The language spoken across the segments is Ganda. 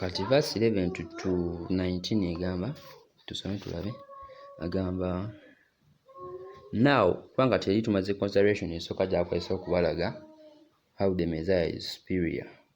kati verse 11 to, to 19 egamba tusome tulabe agamba now kubanga teri tumaze consideration esooka gyakwesa okubalaga how the messiah is superior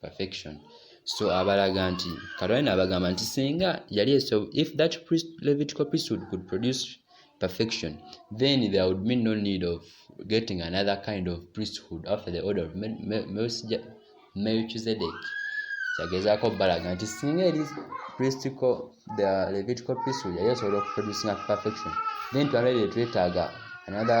perfection so abalaga nti katonda naabagamba nti singa yali eso if that priest, levitical priesthood could produce perfection then there would be no need of getting another kind of priesthood after the order of melchizedek kyagezaako balaga nti singa eri pristical the levitical priesthood yali esobola okuproducinga perfection then twalabire twetaaga another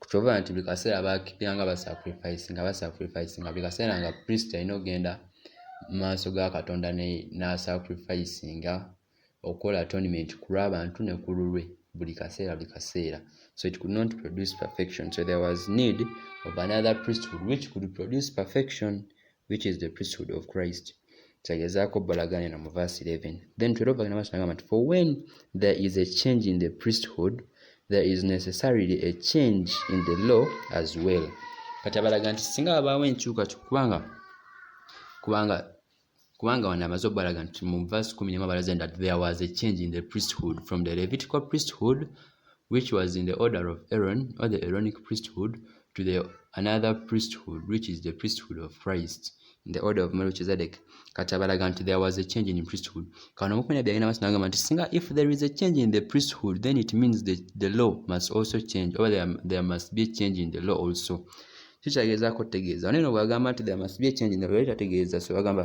kukyova nti buli kaseera bakipira nga basacrifice nga basacrifice nga buli kaseera nga priest alina okugenda mu maaso ga katonda n'asacrifice nga okukola atonement ku lw'abantu ne ku lulwe buli kaseera buli kaseera so it could not produce perfection so there was need of another priesthood which could produce perfection which is the priesthood of christ kyagezaako balaganira mu verse 11 then 12 agenda maaso nagamba nti for when there is a change in the priesthood there is necessarily a change in the law as well kati abalaga nti singa wabaawo enkyukakyuka kubanga kubanga kubanga wano amaze okubalaga nti mu verse 1 abalaze that there was a change in the priesthood from the levitical priesthood which was in the order of Aaron or the Aaronic priesthood to the another priesthood which is the priesthood of Christ in the order of Melchizedek kati abalaga nti there was a change in priesthood kano omukwenda byagenda maaso nagamba nti singa if there is a change in the priesthood then it means the, the law must also change or there, there must be a change in the law also kikyagezaako okutegeeza oneno bwagamba nti there must be a change in the law tategeeza so agamba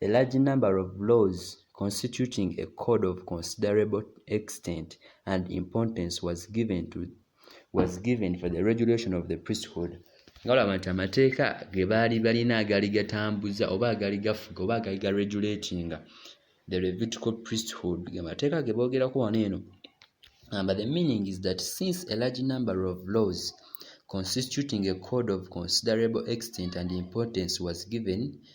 A large number of laws constituting a code of considerable extent and importance was given to was given for the regulation of the priesthood nga olaba nti amateeka ge baali balina agaali gatambuza oba agaali gafuga oba agaali ga regulatinga the levitical priesthood amateeka ge boogerako wano eno but the meaning is that since a large number of laws constituting a code of considerable extent and importance was given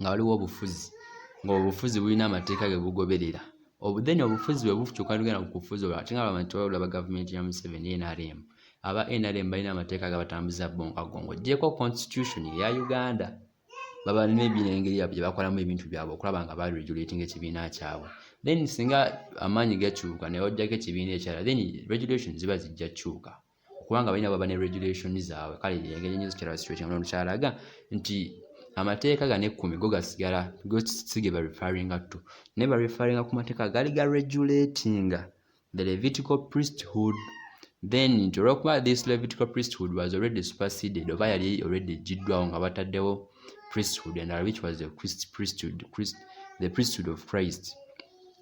nga waliwo obufuzi ng'obufuzi bulina amateeka ge bugoberera obu then obufuzi bwe bukyuka lugenda ku kufuzi olwo ate nga abantu balaba gavumenti ya museveni nrm aba nrm balina amateeka agabatambuza bonkago ng'ogyeko constitution eya uganda baba nebinengeri yabwe gye bakolamu ebintu byabwe okulaba nga baregulating ekibiina kyabwe then singa amaanyi gakyuka ne bajjako ekibiina ekirala then regulation ziba zijja kyuka kubanga balina baba ne regulation zaabwe kale engeri nyo zikira situation ono kyalaga nti amateeka gano ekkumi go gasigala gosige ba referringa to naye ba referringa ku mateeka gali ga regulatinga the levitical priesthood then nti olwokuba this levitical priesthood was already superseded oba yali already egiddwawo nga bataddewo priesthood endala which was the priesthood, Christ, the priesthood of christ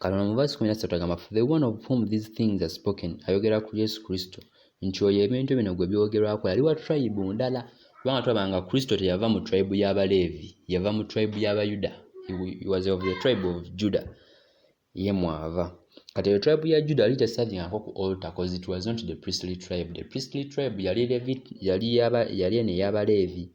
katono mu vasi kumi nasatu agamba for the one of whom these things are spoken ayogera ku yesu kristo nti oyo ebintu bino gwe byogerwako yali wa tribe ndala kubanga tulaba nga kristo teyava mu tribe y'abaleevi yava mu tribe y'abayuda was of the tribe of juda ye mwava kati eyo tribe ya juda yali tesavingako ku altar cause it was not the priestly tribe the priestly tribe yali yali eno ey'abaleevi yali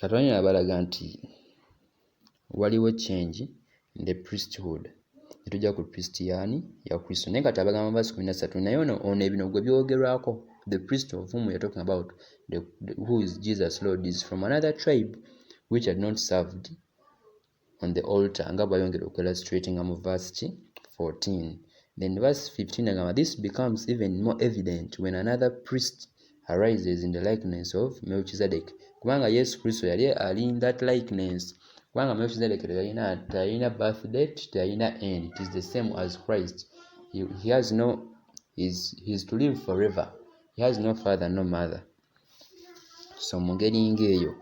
Katonda yabalaga nti waliwo change in the priesthood netujja ku priest yani ya kristo naye kati abagamba basi kumi nasatu naye ono ono ebino gwe byogerwako the priest of whom weare talking about the, the, who is jesus lord is from another tribe which had not served on the altar nga bwayongera okwelastratinga mu verse ki 14 then verse 15 agamba this becomes even more evident when another priest arises in the likeness of melchizedek kubanga yesu kristo yali ali in that likeness kubanga melchizedek teyalina teyalina birth date teyalina end it is the same as christ he, he has no is he is to live forever he has no father no mother so mu ngeri ng'eyo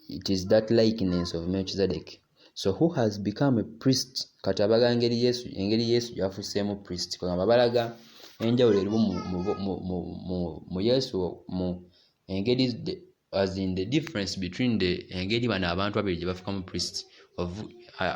it is that likeness of melchizedek so who has become a priest kati abaga engeri yesu engeri yesu gyafuseemu priest kwegamba balaga enjawulo erimu mu yesu mu engeri as in the difference between the engeri bano abantu babiri gye bafukamu priest of uh,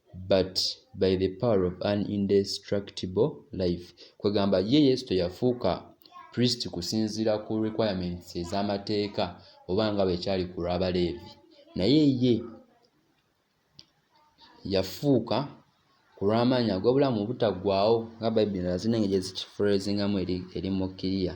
but by the power of an indestructible life kwegamba ye yesu teyafuuka priest kusinziira ku requirements ez'amateeka oba nga bwekyali ku lw'abaleevi naye ye yafuuka ku lw'amaanyi ag'obulamu obutaggwaawo nga bayibuli nazinange gyezikifreezingamu eri mukiriya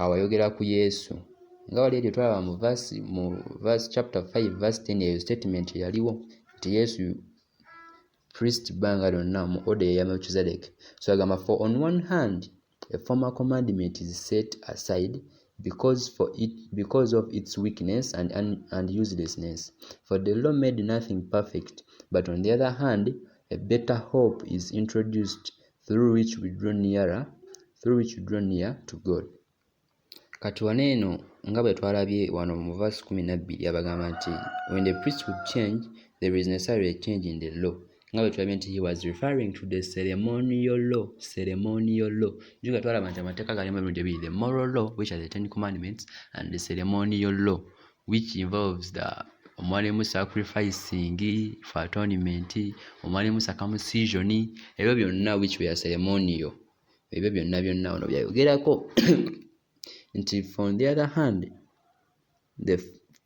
awo ayogera ku yesu nga wali eri otwalaba mu verse mu verse chapter 5 verse 10 eyo statement yaliwo nti yesu priest banga lyonna mu order ya melchizedek so agamba for on one hand a former commandment is set aside because for it because of its weakness and, and, and uselessness for the law made nothing perfect but on the other hand a better hope is introduced through which we draw nearer through which we draw near to God kati wano eno nga bwe twalabye wano mu verse kumi nabbiri abagamba nti when the priest would change there is necessarily a change in the law nga bwe tulabye nti he was referring to the ceremonial law ceremonial law juga twalaba nti amateeka galimu emirundi ebiri the moral law which are the ten commandments and the ceremonial law which involves the omwalimu sacrificing for atonement omwalimu circumcision ebyo byonna which were ceremonial ebyo byonna byonna ono byayogerako nti from the other hand the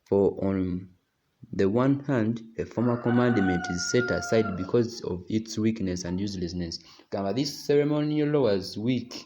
for on the one hand a former commandment is set aside because of its weakness and uselessness gamba this ceremonial law was weak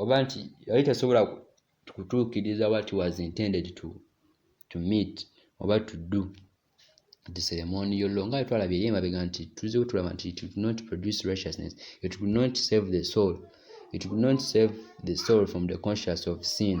oba nti yali tasobola kutuukiriza what was intended to, to meet oba to do the ceremony yollo nga twalabye eri emabega nti tuze tulaba nti it would not produce righteousness it would not save the soul it would not save the soul from the conscious of sin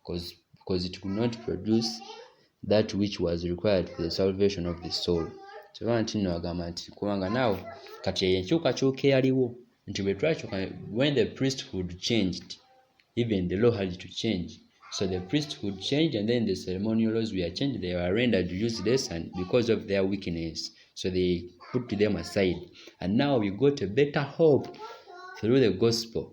because because it could not produce that which was required for the salvation of the soul kyova nti no agamba nti kubanga naawe kati eyo enkyukakyuka eyaliwo nti bwe twakyuka when the priesthood changed even the law had to change so the priesthood changed and then the ceremonial laws were changed they were rendered useless and because of their weakness so they put them aside and now we got a better hope through the gospel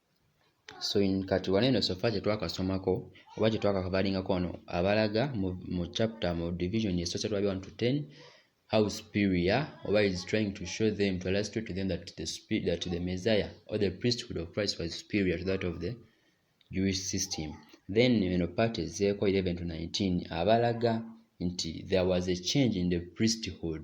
so in kati wano eno sofa kyetwakasomako oba kyetwakakabalingako wano abalaga mu, mu chapter mu division esoose tulabi 1 to 10 how superior oba is trying to show them to illustrate to them that the, spirit, that the messiah or the priesthood of christ was superior to that of the jewish system then eno part ezeeko 11 to 19 abalaga nti there was a change in the priesthood